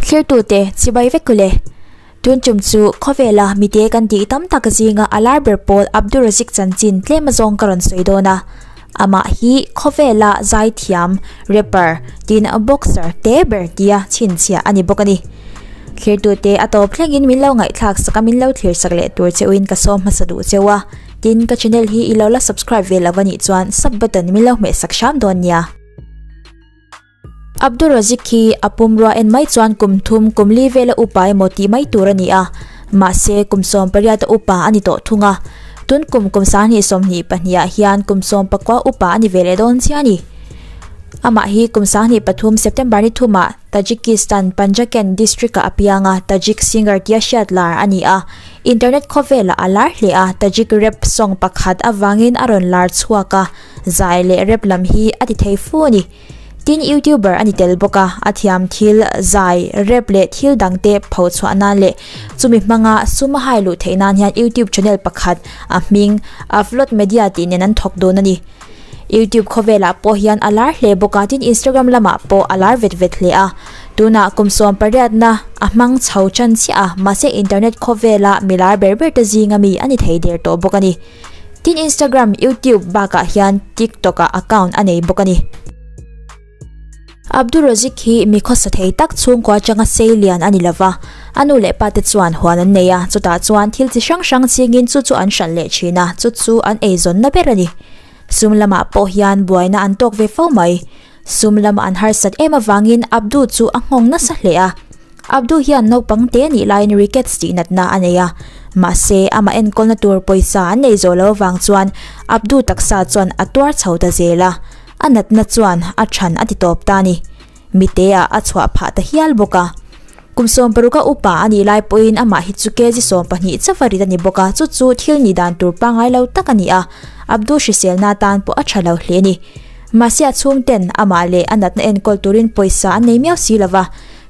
Thlir tu te chibai vek kule tun chum chu khawvela mite kan tih tam tak zinga alar ber pawl Abdul Razik chanchin tlema zawng ka rawn sawi dawn a. Amah hi khawvela zaithiam, rapper, tin boxer te ber tia chhinchhiah a ni bawk a ni. Thlertute a tawp thlengin min lo ngaihthlak sak a, min lo thlersak leh tur cheuhin ka sawm hmasa duh cheu a, tin ka channel hi i lo la subscribe ve lo va nih chuan sub button min lo hmeh sak hram dawn nia. Abdur Razik hi a pum rua en mai chuan kum thum, kum li vela upa emaw tih mai tur a ni a, mahse kum sawm pariata upa a ni tawh thung a. Tun kum kum sahnih sawmhnih pahniha hian kum sawm pakua upa a ni ve leh dawn chiah a ni. Amah hi kum sahnih pathum September ni thuma Tajikistan Panjaken district a apianga Tajik singer tia hriat lar a ni a. Internet khawvela a lar hle a, Tajik rap song pakhat avangin a rawn lar chhuak a, zai leh rap lam hi a ti thei fu a ni. Tin, YouTuber a ni tel bawk a, a thiam thil zai, rep leh thil dangte pho chhuah nan leh chumi hmanga sum a hai luh theih nan hian YouTube channel pakhat a hming Avlod Media tih nen an thawk dawn a ni. YouTube khawvelah pawh hian a lar hle bawk a, tin Instagram lamah pawh a lar vet vet hle a. Tunah kum sawm pariatna a hmang chho chan chiah a, mahse internet khawvela mi lar ber berte zinga mi a ni thei der tawh bawk a ni. Tin, Instagram, YouTube bakah hian TikTok-a account a nei bawk a ni. Abdul Razik hi mi khawsa thei tak chhungkua atanga sei lian a ni lo va, a nu leh pate chuan huan an nei a, chutah chuan thil chi hrang hrang chingin chu chu an hralh leh thin a, chu chu an eizawnna ber a ni. Sum lamah pawh hian buaina an tawk ve fo mai. Sum lama an harsat em avangin Abdu chu a nghawng nasa hle a. Abdu hian naupang te nih laiin rickets tih natna a nei a. Mahse, amah enkawlna tur pawisa an nei zawh lo avang chuan Abdu taksa chuan a tuar chho ta zel a. A natna chuan a chhan a ti tawp ta a ni. Mite ah a chhuah phah ta hial bawk a. Kum sawm paruka upa a nih lai pawhin amah hi chu kg sawm pahnih chauh a rit a ni bawk a, chu chu thil nih dan tur pangai lo tak a ni a, Abdu hriselna atan pawh a tha lo hle a ni. Mahse a chhungten amah leh a natna enkawl turin pawisa an nei miau si lova,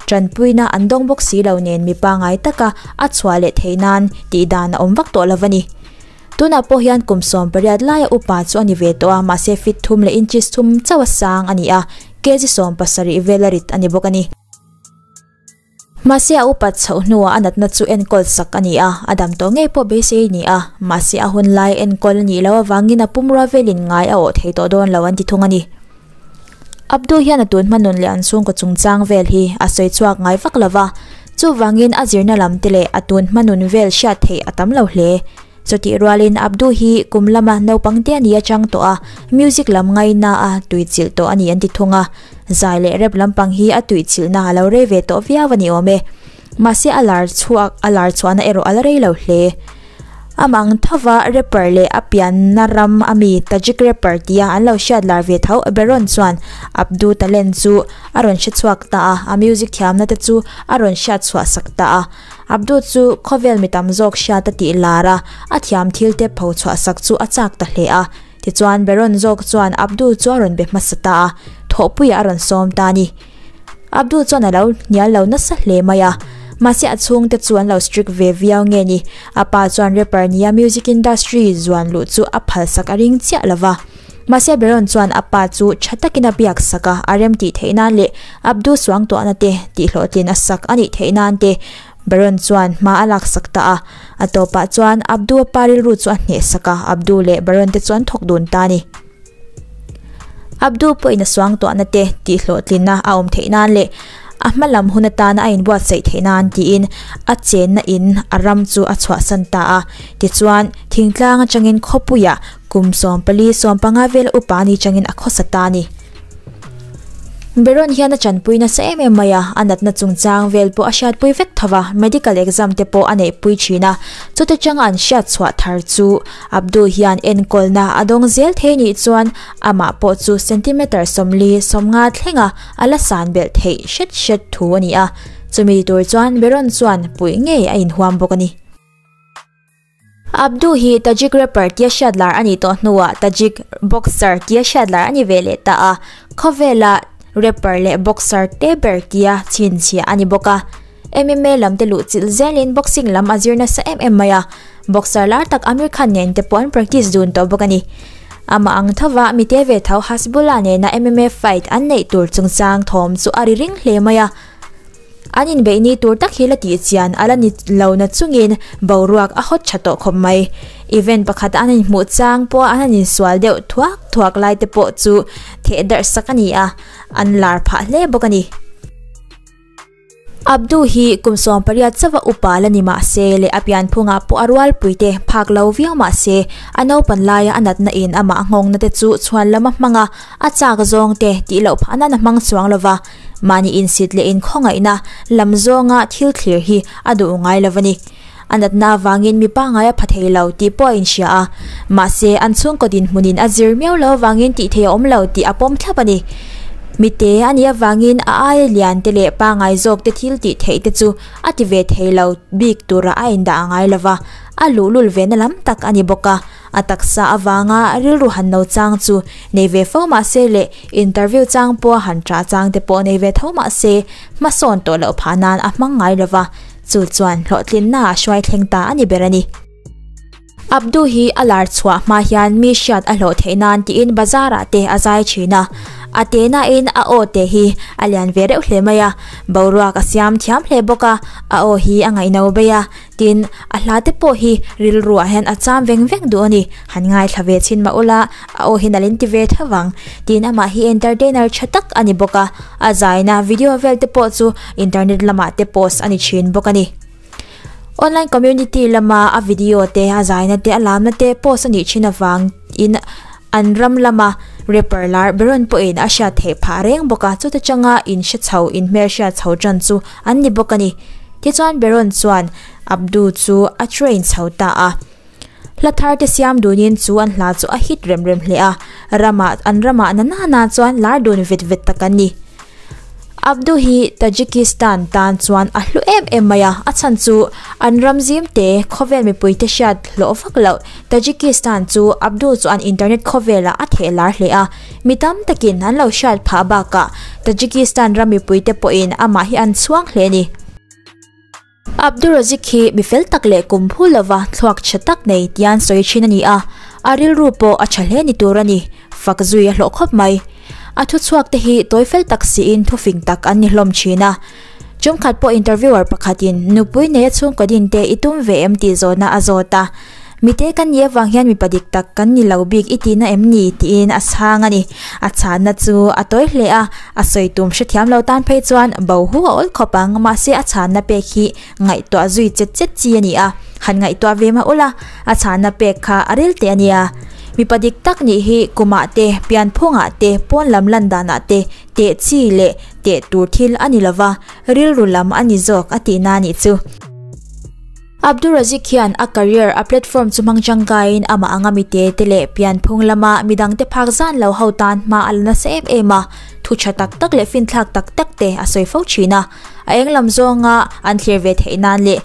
tanpuina an dawng bawk si lo nen mi pangai taka a chhuah leh theih nan tih dan a awm vak tawh lova ni. Tunah pawh hian kum sawm pariat laia upa chu a ni ve tawh a, mahse fitthum leh inches thum chauh a sang a ni a, kg sawm pasarih vel a rit a ni bawk a ni. Mahse a upat chhoh hnuah a natna chu enkawl sak a ni a, a dam tawh ngei pawh beisei a ni a. Mahse a hun lai enkawl a nih loh avangin a pum rua velin ngai a awh thei tawh dawn lo an ti thung a ni. Abdu hian a tun hmanun leh an chhungkaw chungchang vel hi a sawi chhuak ngai vak lo va, chuvangin a zirna lam te leh a tun hmanun vel hriat theih a tam lo hle. Chutih rualin Abdu hi kum lama naupang te a ni atang tawh a, music lam ngaina a tui chilh tawh a ni an ti thung a. Zai leh rap lampang hi a tui chilhna a lo rei ve tawh viau a ni awm e. Mahse a lar chhuak a lar chhuahna erawh a la rei lo hle. Am ang thova rapper leh a pianna ram a mi Tajik rapper tia an lo hriat lar ve tho berawn chuan Abdu talent chu a rawn hre chhuak ta a, a music thiamna te chu a rawn hriat chhuah sak ta a. Abdu chu khawvel mi tam zawk hriat a tih lar a, a thiam thil te pho chhuah sak chu a chak ta hle a. Tichuan Beron zawk chuan Abdu chu a rawn be hmasa ta a, thawhpuiah a rawn sawm ta a ni. Abdu chuan a lo hnial lo nasa hle mai a, mahse a chhungte chu an lo strict ve viau nge ni. A pa chuan rapper nia music industry zuan luh chu a phalsak a ring chiah lo va. Mahse Beron chuan a pa chu tha takin a biak sak a, a rem tih theih nan leh Abdu suang tuahna te tih hlawhtlin a sak a nih theih nan te Beron chuan hma a lak sak ta a. A tawpah chuan Abdu a pa rilru chu a hneh sak a, Abdu leh Beron te chuan thawk dun ta a ni. Abdu pawhin a suang tuahna te tih hlawhtlinna a awm theih nan leh a hma lam hun atana a inbuatsaih theih nan tiin a chenna in a ram chu a chhuahsan ta a. Tichuan, thingtlang atangin khawpuiah. Kum sawm pali sawm panga vel upa a ni changin a khawsa ta a ni. Beron hian a chanpui nasa em em mai a, a natna chungchang vel pawh a hriatpui vek tho va, medical exam te pawh a neihpui thin a. Chute changa an hriat chhuah thar chu Abdul hian enkawlna a dawng zel thei nih chuan amah pawh chu centimeter sawmli sawmnga thlenga a la san belh theih hret hret thu a ni a. Chumi tur chuan Beron chuan puih ngei a inhuam bawk a ni. Abdu hi Tajik rapper tia hriat lar a nih tawh hnuah Tajik boxer tia hriat lar a ni ve leh ta a. Khawvela rapper leh boxer te ber tia chhinchhia a ni bawk a. MMA lam te luh chilh zelin boxing lam a zir nasa em em mai a. Boxer lar tak Aamir Khan nen te pawh an practice dun tawh bawk a ni. Amah ang thova mi te ve tho Hasbullah nena MMA fight an neih tur chungchang thawm chu a ri ring hle mai a. An inbeihni tur tak hi la tih chian a la ni lo na chungin boruak a hawt tha tawh khawp mai. Event pakhat an inhmuh chang pawh a an insual deuh thuak thuak lai te pawh chu theh darhsak a ni a, an lar phah hle bawk a ni. Abdu hi kum sawm pariat chauha upa la ni mah se leh a pian phunga pawh a rualpui te phak lo viau mah se, a naupan laia a natna in amah nghawngna te chu chhuan lama hmanga a chak zawng te tih loh phah nan a hmang chuang lo va. Mahni insit leh inkhawngaihnaa lam zawnga thil thlir hi a duh ngai lo va ni. A natna avangin mi pangai a pha thei lo tih pawh a inhria a. Mahse, an chhungkaw dinhmunin a zir miau lo avangin tih theih a awm lo tih a pawm thlap a ni. Mite a nih avangin a aia liante leh pangai zawkte thil tih theihte chu a ti ve thei lo bik tura a indah a ngai lo va, a luhlul vena lam tak a ni bawk a. A taksa avanga rilru han lo chang chu nei ve fo mah se le interview chang pawha han ṭah chang te pawh nei ve tho mah se, hmasawn tawh loh phah nan a hmang ngai lo va, chu chuan hlawhtlinna a hruai thleng ta a ni ber a ni. Abdu hi a lar chhuah hma hian mi hriat a hlawh theih nan tiin bazar ah te a zai ṭhin a, a te nain a aw te hi a lian ve reuh hle mai a, boruak a siam thiam hle bawk a, a aw hi a ngaihno bei a, Tin, a hla te pawh hi rilruah hian a cham veng vek duh a ni. Han ngaithla ve chin mah ula, a aw hian a len ti ve tho vang. Tin, amah hi entertainer tha tak a ni bawk a, a zaina video vel te pawh chu internet lamah te post a ni thin bawk a ni. Online community lama a video te, a zaina te, a lamna te post a nih thin avangin, An ram lama Rapper lar Beron pawh in a hriat theih phah reng bawk a, chuta changa in hre chho, in hmel hriat chho tan chu an ni bawk a ni. Tichuan Beron chuan Abdu chu a train chho ta a, hla thar te siam dunin chu an hla chu a hit rem rem hle a, ramah, an ramah nana na chuan lar dun vet vet tak an ni. Abdu hi Tajikistan tan chuan a hlu em em mai a, a chhan chu an ram zim te khawvel mipui te hriat hlawh vak loh. Tajikistan chu Abdu chuan internet khawvelah a theh lar hle a, mi tam takin an lo hriat phah bakah Tajikistan ram mipui te pawhin amah hi an chhuang hle a ni. Abdurazik hi mi fel tak leh kum phul lova thluakchhe tak nei tian sawi thin a ni a, a rilru pawh a tha hle ni tur a ni. Fak zui a hlawh khawp mai. A thu chhuak te hi tawi fel tak siin thufing tak an ni hlawm thin a. Chungkhat pawh interviewer pakhatin, Nupui neia chhungkaw din te i tum ve em? tih zawhna a zawt a. Mite kan nih avang hian mipa dik tak kan ni lo bik i tihna em ni? tiin a chhang a ni. A chhahna chu a tawi hle a, a sawi tum hrethiam lo tan phei chuan bo hu a awl khawp ang. Mahse a chhahna pek hi ngaihtuah zui chet chet chi a ni a, han ngaihtuah ve mah ula, a chhahna pek kha a rel teh a nia. Mipa dik tak nih hi kumah te, pian phungah te, pawn lam landanah te teh chi leh teh tur thil a ni lova, rilru lam a ni zawk a tihna a nih chu. Abdur Razik hian a career a platform chu hmang tangkaiin amah anga mite te leh pian phung lama midangte phak zan lo ho tan hma a la nasa em em a, thu tha tak tak leh finthlak tak tak te a sawi fo thin a. A eng lam zawnga an thlir ve theih nan leh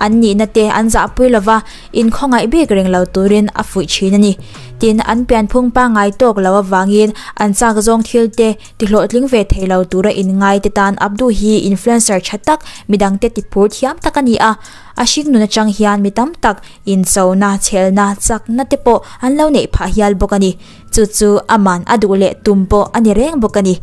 an nihna te an zahpui lova inkhawngaih bik reng lo turin a fuih thin a ni. Tin, an pianphung pangngai tawk lo avangin an chak zawng thil te, tihlawhtling ve thei lo tura inngaite tan Abdu hi influencer tha tak, midangte tiphur thiam tak a ni a. A hring nun atang hian mi tam tak inchona, chhelna, chakna te pawh an lo neih phah hial bawk a ni. Chu chu a man a duh leh tum pawh a ni reng bawk a ni.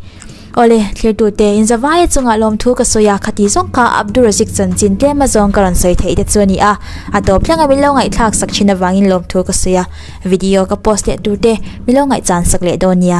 Awle, thirtute, Inzavaia chungah lawmthu ka sawi a, khati zawng kha Abdu razik chanchin tlem a zawng ka rawn sawi theih te chu a ni a. A tawp thleng a min lo ngaihthlak sak thin avangin lawmthu ka sawi a. Video ka post leh turte min lo ngaihchansak leh dawn nia.